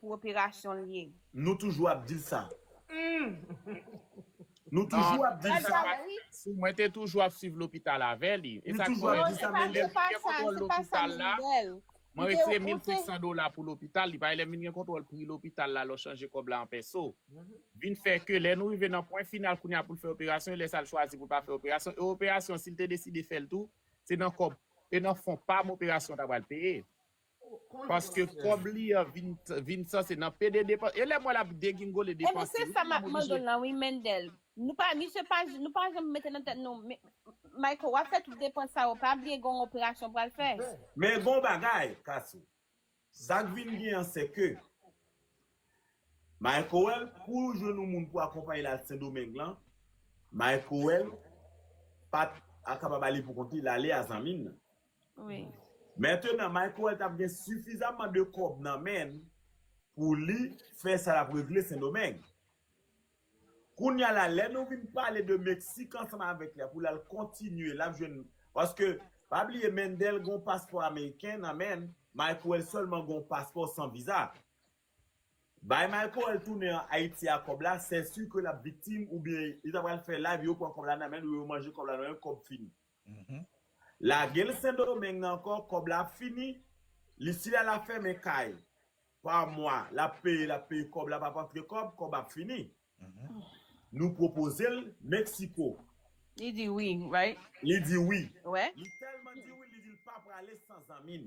pou operasyon l ye. Nou toujou ap dil sa. Nou toujou ap dil sa. Si mwen te toujou ap swiv lopital avè li. E sa k fè non se pa se pa sa se pa sa m di bèl. Mwen retire 1500 dola pou lopital li paske lè m vin gen kontwòl pri lopital la lè w chanje kòb la an pèso. Vin fè ke lè nou rive nan pwen final kounye a pou l fè operasyon e lè sa l chwazi pou l pa fè operasyon e operasyon si l te deside fè l tou se nan kòb e nan fon pa m operasyon ta pral peye. Paske kob li an vin san se nan pede depanse. E lem we lap degingole Ebyen depanse se wi sa map manman Mandel Michel. lan wi Mendel. Nou pa misye pa nou pa janm mete nan tèt nou Mayko wap fè tout depans sa yo pa bliye gonw operasyon ou pral fè. Men gon bagay Kasou. Sak vin gen an se ke Maykoel pou l jwenn yon moun pou akonpaye l al sendomeng lan Maykoel pat kapab ale pou kont li lale a zanmi l lan. wi. Mentenan Michael tap gen sifizamman de kòb nan menn pou li fè sa lap regle sendomeng. Kounya la lè nou vin pale de meksik ansanm avèk li a pou lal kontinye lap jwenn paske pa bliye Mendel gon paspò ameriken nan menn Michael sèlman gon paspò san viza. Bay Michael tounen an ayiti a kòb la sè su ke lap viktim oubyen li ta pral fè live yo pran kòb la nan menn yo yo manje kòb la nan menn kòb fini. Lagel sendomeng nan ankò kòb la ap fini li sila la fèmen kay pa mwa lap peye lap peye kòb la pap antre kòb kòb ap fini nou pwopozel mexico Li di wi right. Li di wi. Li tèlman di wi li di li pa prale san zanmi n.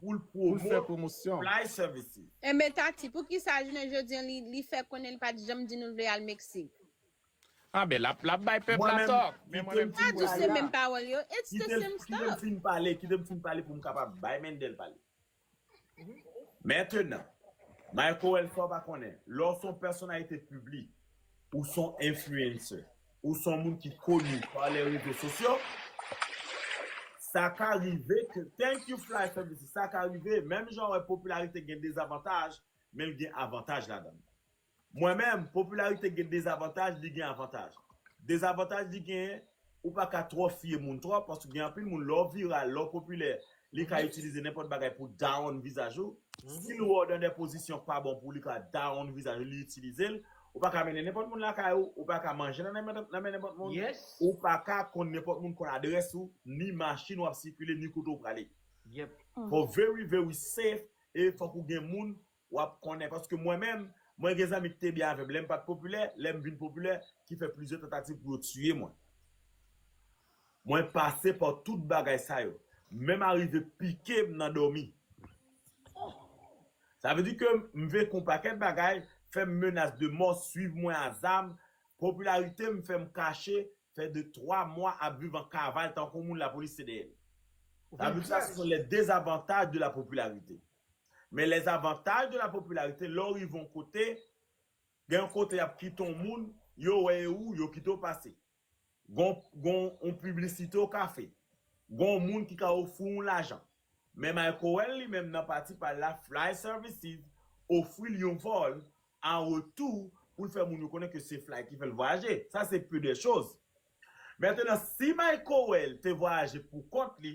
pou l pwomote Fly Services. Enben Tati, poukisa jounen jodi an li fè konnen li pa t janm di nou l vle al Meksik? Anben, l ap bay pèp la tò. Mwen menm, kite m fin pale la. Kite m fin pale, kite m fin pale pou m kapab bay Mendel pale. Mentenan, Mayko Wèlfò pa konnen, lè w s on pèsonalite piblik, Ou son influencer. Ou son moun ki koni pa les rezo sosyo. Sa ka rive ke, thank you Fly Fè Mizik, sa ka rive, menm jan ou wè popilarite gen dezavantaj, men l gen avantaj ladan l. Mwen menm, popilarite gen dezavantaj, li gen avantaj. Dezavantaj li genyen, Ou pa ka twò fye moun twòp paske gen anpil moun lè w viral, lè w popilè, li ka itilize nenpòt bagay pou down vizaj ou. Si l wè w nan dè pozisyon pa bon pou li ka down vizaj ou li itilize l. Ou pa ka mennen nenpòt moun lakay ou, ou pa ka manje nan men nenpòt moun, ou pa ka konn nenpòt moun konn adrès ou, ni machin w ap sikile, ni kote w prale. Fò w very very safe e fòk ou gen moun Wap konnen, paske mwen menm, mwen gen zanmi ki te byen avèm lèm pat popilè, lèm vin popilè, ki fè plizyè tantativ pou yo tiye mwen. Mwen pase pa tout bagay sa yo. Menm arive pike'm nan dòmi. Sa vle di ke m vekn yon pakèt bagay, fèm menas de mò, swiv mwen a zam, popilaritem fèm kache, fè de twa mwa ap viv an kaval tankou yon moun lapolis te dèyèm. Sa vle di sa se yon lè dezavantaj de la popularité. Men les avantages de la popularité lè w rive yon kote gen yon kote y ap kite yon moun yo wè e ou yo kite w pase gon gon yon piblisite w ka fè gon yon moun ki ka ofri w yon lajan men Microwell li menm nan pati pa l la Fly Services ofri l yon vòl an retou pou l fè moun yo konnen ke se Fly ki fè l vwayaje sa se peu de choses Mètenan si Microwell te vwayaje pou kont li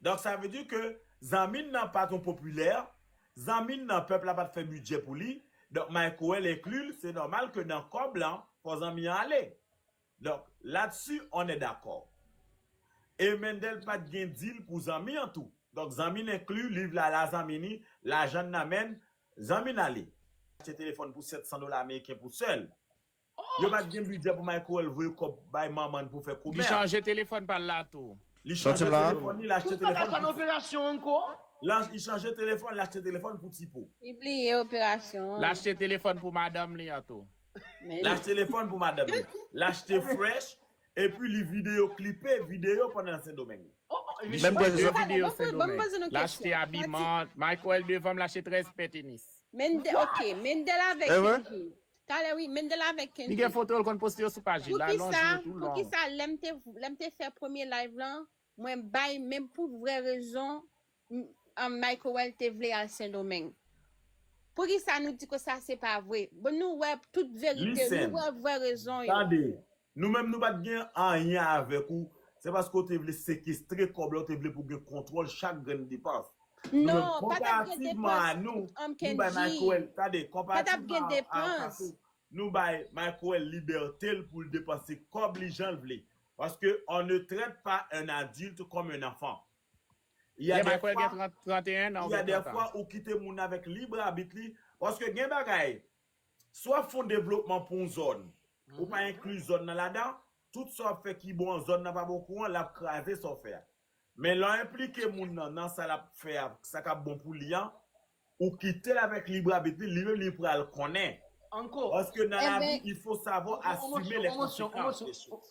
Donk sa vle di ke zanmi n nan pa t yon popilè, zanmi n nan pèp la pa t fè bidjè pou li, donk Maycoel enkli l, se nòmal ke nan kòb lan fò zanmi an ale. Donk latsu on è dakò. E Mendel pa t gen dil pou zanmi an tou. Donk zanmi n enkli, liv la la zanmi ni, lajan n nan men n, zanmi n ale. Achte telefòn pou 700 dola ameriken pou sè l. Yo pat gen bidjè pou Michael voye kòb bay manman n pou fè Li komè. chanje telefòn pa l la tou. Li Nan chanje tim la. telefòn li, l achte Tous pa ka telefòn fè pou n Ti Po. operasyon ankò? L a li chanje telefòn, l achte telefòn pou Ti Po. Li bliye operasyon L an. achte telefòn pou madanm li an tou. Men L li. achte telefòn pou madanm li. L achte fresh epi li videyo klipe videyo pandan l Sendomeng. Li Menm klè klipe zòt. Tande, videyo ban mwen, ban m Sendomeng. poze nou L achte kesyon. Fati. abiman. Michael devan m l achte 13 pè tenis. Mendel, ok. Mendel avèk Evre? Kenji. Talè wi Mendel avèk Li gen Kendrick. foto l konn poste yo sou paj li la non Poukisa jou yo tou long. poukisa lèm te lèm te fè premye live lan mwen bay men pou vrè rezon m Micowell te vle al sendomeng poukisa nou di ke sa se pa vre bon nou wè tout Li verite nou senn. wè vrè rezon yo. Tande Nou menm nou pat gen anyen avèk ou, se paske w te vle sekestre kòb la, w te vle pou gen kontwòl chak grenn depans. Nou menm konparativman a nou, nou bay Michael, tande, konparativman a Kato, nou bay Michael libète l pou l depanse kòb li jan l vle. Paske on ne traite pas un adulte comme un enfant. Y a dè fwa, y a dè fwa ou kite moun avèk lib abit li, paske gen bagay, Si w ap fè yon devlopman pou yon zòn, ou pa enkli zòn nan ladan, tout sa w ap fè ki bon an zòn nan pa bon kouran, l ap kraze sa w fè a. Men lè w enplike moun nan nan sa l ap fè a, sa k ap bon pou li an, ou kite l avèk librabit li, li menm li pral konnen. Paske nan lavi, il faut savoir assumer les conséquences des choses.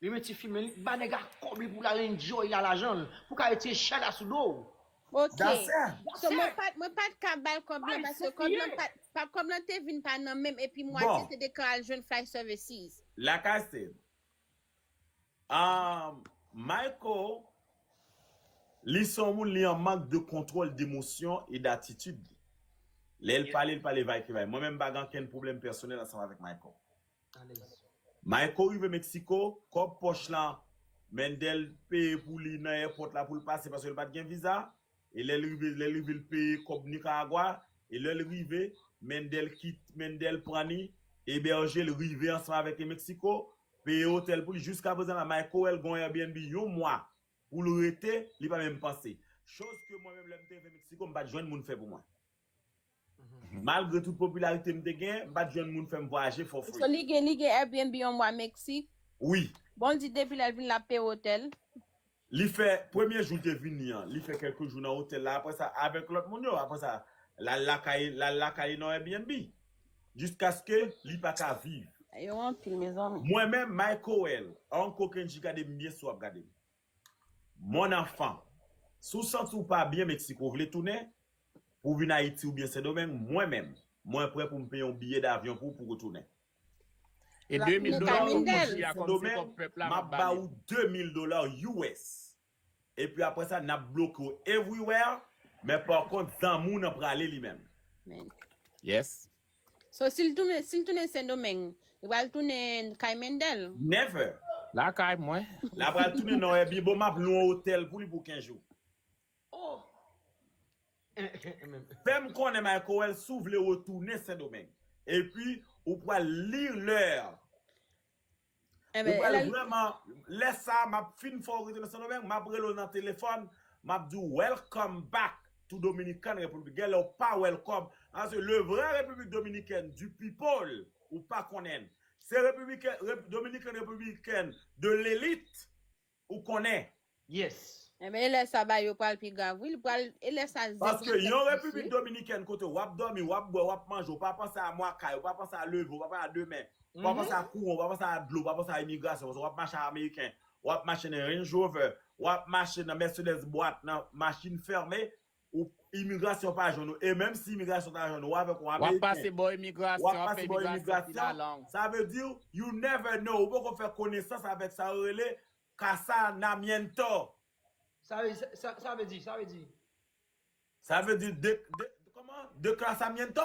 Li men ti film li k ba nèg a kòb li pou lal enjoy la lajanl pou ka retire chay la sou dow. Ok So mwen pat mwen pat ka bal kòb lan paske kòb lan pat pa kòb lan te vin pa nan menm epi mwatye te deklare al jwenn fly services. Lakay se Ahh Mayco li se yon moun li an mank de kontwòl demosyon e datitid li. Lè l pale l pale vaykevay. Mwen menm m pa gen ankenn pwoblèm pèsonèl ansanm avèk Mayco. alèz. Mayko rive Mexico, kòb pòch la Mendel peye pou li nan èpòt la pou l pase paske l pa t gen viza e lè l rive lè l rive l peye kòb Nicaragua e lè l rive Mendel kit Mendel pran li ebèje l rive ansanm avèk li Mexico peye otèl pou li jiska prezan la Mayko wè l gon Airbnb yon mwa pou l rete li pa menm panse choz ke mwen menm lè m te rive Mexico m pa t jwenn moun fè pou mwen. Malgre tout popularité m te gen, m pat jwenn moun fèm vwayaje for free. So li gen li gen Airbnb yon mwa Mexique? Wi. Bon l di depi lèl vin lap peye hotel? Li fè premye jou l te vini an li fè kèlke jou nan hotel la aprè sa avèk lòt moun yo aprè sa lal lakay lal lakay li nan Airbnb jiskaske li paka viv. Yo anpil mezanmi. Mwen menm my coel Uncle kendji gadem byen si wap gadem. Mon enfant, si w santi w pa byen Mexico vle tounen pou w vin Ayiti oubyen Sendomeng, mwen menm, mwen prè pou m peye yon biye davyon pou w pou w retounen. E 2 mil dola kòb manje a kòm se kòb pèp la m ap ba li. Map ba ou 2 mil dola US. Epi aprè sa nap bloke w everywhere, men par kont zanmi w nan prale li menm. Yes. So sil tounen sil tounen sendomeng li pral tounen kay mendel. Never. Lakay mwen. La pral tounen nan èbi bon map lwen hotel pou li pou 15 jou. Oh. Fèm konnen Micowell si w vle retounen sendomeng. Epi ou pral lire leur. Ou pral vrèman Lè sa a map fin fè w rete nan Sendomeng map rele w nan telefòn map di w welcome back to Dominican Republic Genlè ou pa welcome Paske le vrai République Dominicaine du people ou pa konnen l Se République Dominican Republicaine de l'élite Ou konnen. Yes. Enben e lè sa bagay yo pral pi grav wi li pral e lè sa zen pral Paske yon fèt plis repiblik wi. dominikèn kote wap dòmi wap bwè wap manje ou pa panse a mwa kay ou pa panse a leve ou pa panse a demen ou pa panse a kouran ou pa panse a dlo ou pa panse a imigrasyon paske wap mache a ameriken wap mache nan range rover wap mache nan mercedes bwat nan machin fèmen Imigrasyon pa jwenn ou. E menm si imigrasyon ta jwenn ou, ou avèk yon Ameriken. Wap pase bò imigrasyon, wap fè imigrasyon final an. Sa vle di, you never know, ou poko fè konesans avèk sa yo rele casanamiento. Sa vle di, sa vle di, sa vle di. Sa vle di, de, de, kòman? Declasamiento?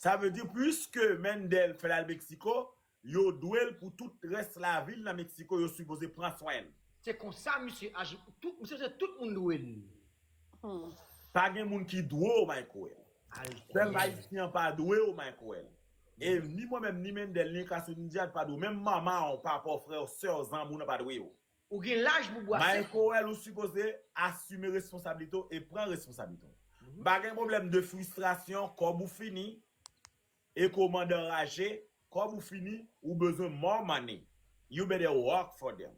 Sa vle di puiske Mendel fèl al Mexico, yo dwel pou tout rès lavil nan Mexico yo sipoze pran swenl. Se konsa misye aji tout misye se tout moun dwe l. Humm. Pa gen moun ki dwe w Michaël. Pèp Ayisyen an pa dwe w Michaël. E ni mwen menm ni Mendel ni Cassy ni Djihad pa dwe w. Menm manman w, papa w, frè w, sè w, zanmi w nan pa dwe w. Ou gen laj pou bwase. Mayen Corel ou sipoze asime responsabilite w e pran responsabilite w. M pa gen pwoblèm de fristrasyon, kòb ou fini e komandan raje, kòb ou fini ou bezwen more money, you better work for them.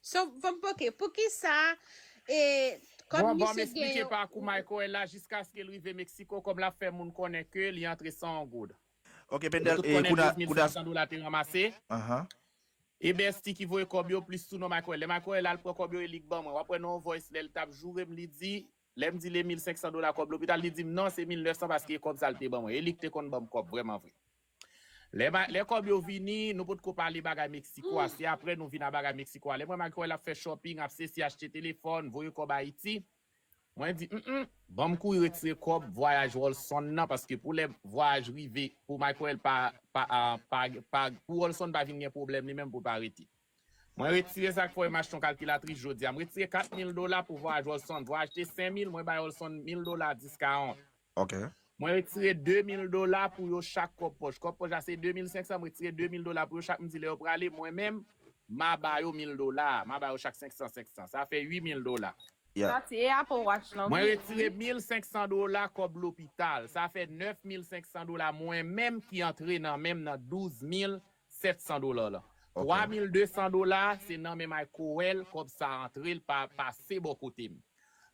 So, fòm ok, poukisa e kòm Bon, ban m misye gen esplike yon. pakou Mayen Corel la jiskaske l rive Mexico kòm l ap fè moun konnen ke li antre san on goud. Ok Nou Bendel tout e konnen kouna 12 mil kouna 500 dola te ranmase. Ahan. E Bestie ki voye kòb yo plis tou non Michael. Lè Michael al pran kòb yo e li k ban mwen. Wap wè nan yon voice lè l tap joure m li di Lè m di l e 1500 dola kòb lopital li di m non se 1900 paske e kòb sa l te ban mwen. E li k te konn ban m kòb vrèman vre. Lè ma lè kòb yo vini nou pot ko pale bagay Mexico a se aprè nou vin a bagay Mexico a. Lè m wè Michael ap fè shopping ap sesi achte telefòn voye kòb Ayiti. Mwen di m m banm kouri retire kòb vwayaj Rolson nan paske pou lè vwayaj rive pou Michael pa pa pa pou Rolson pa vin gen pwoblèm li menm pou l pa rete. Mwen retire sa k fè m achte yon kalkilatris jodi a. M retire 4 mil dola pou vwayaj Rolson. Vwayaj te 5 mil, mwen bay Rolson mil dola 10 ka 1. Ok. Mwen retire 2000 dola pou yo chak kòb pòch. Kòb pòch la se 2500, m retire 2000 dola pou yo chak, m di lè yo prale, mwen menm, ma ba yo 1000 dola a, ma ba yo chak 500, 500. Sa fè 8000 dola. Yeah. Sa tiye Apple Watch lan Mwen vit wi. retire 1500 dola kòb lopital. Sa fè 9500 dola mwen menm ki antre nan menm nan 12700 dola lan. Ok. 3200 dola se nan men Mike Coel kòb sa antre, l pa pase bò kote m.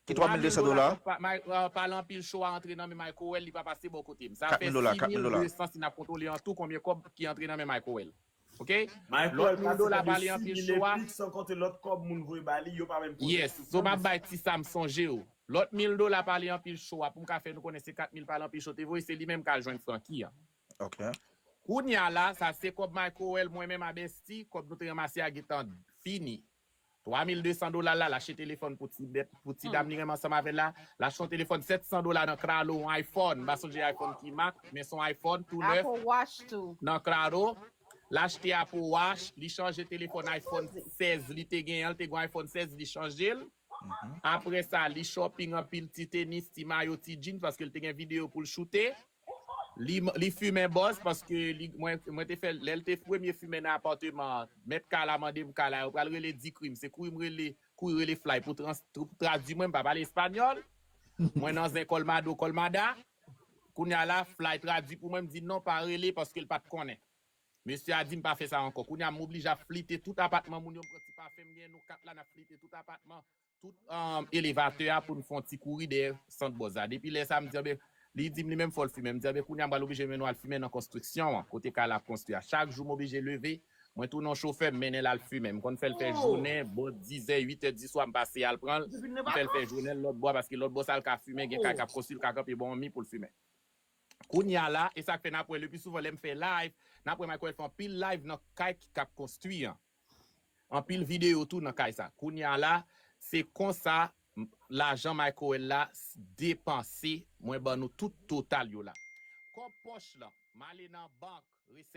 Ki 3 mil 200 dola? 3 mil dola tonp pale anpil show a antre nan men Microwell li pa pase bò kote m. Sa fè 6 mil 200 si n ap kontwole an tou konbyen kòb ki antre nan men Microwell. Ok? Lòt mil dola pale anpil show a. Microwell pase pale de 6 mil epic san konte lòt kòb moun voye ba li yo pa menm poze l sou tabl. Yes. So m ap bay ti sa m sonje yo. Lòt mil dola pale anpil show a pou m ka fè nou konnen se 4 mil pale anpil show te voye se li menm k al jwenn Francky an. Ok. Kounya la sa se kòb Microwell mwen menm a Bestie kòb nou te ranmase a gen tan fini. 3200 dola la, l achte telefòn pou ti bèt, pou ti dam li renmen ansanm avè l la. L achte yon telefòn 700 dola nan Claro, yon iPhone, m pa sonje iPhone ki mak, men s on iPhone tou nèf. Apple Watch tou. Nan Claro. L achte Apple Watch, li chanje telefòn iPhone 16 li te genyen an, li te gen yon iPhone 16 li chanje l. Aprè sa, li shopping anpil ti tenis, ti mayo, ti jeans paske l te gen videyo pou l choute. Li li fimen bòs paske li mwen mwen te fè lè l te premye fimen nan apàteman an mèt kay la mande m kay la yo pral rele di krim se kouri m rele kouri rele flay pou trans pou tradwi mwen m pa pale espanyòl mwen nan zen kòlmado kòlmada kounya la flay tradwi pou mwen m di non pa rele paske l pa t konnen mesye a di m pa fè sa ankò kounya m oblije ap flite tout apatman moun yo m pran ti pafen m gen nou 4 la n ap flite tout apatman tout elevatè a pou n fè yon ti kouri dèyè sant Bòz la. Depi lè sa a, m di anben, li di m li menm fò l fimen. M di anben kounye a m pral oblije mennen w al fimen nan konstriksyon an, kote kay la ap konstwi a. Chak jou m oblije leve, mwen tounen yon chofè, m mennen l al fimen. M konn fè l fè jounen, bò dizè, uitè diswa m pase al pran l, m fè l fè jounen l lòtbò a, paske lòtbò sa a l ka fimen, gen kay k ap konstwi, l ka kanpe bò anmi pou l fimen. Kounye a la, e sa k fè n ap wè lepi souvan lè m fè live, n ap wè Michael fè anpil live nan kay ki k ap konstwi an. Anpil video tou nan kay sa. Kounya la se konsa lajan Microwell la depanse mwen ban nou tout total yo la. Kòb pòch lan male nan bank resèt.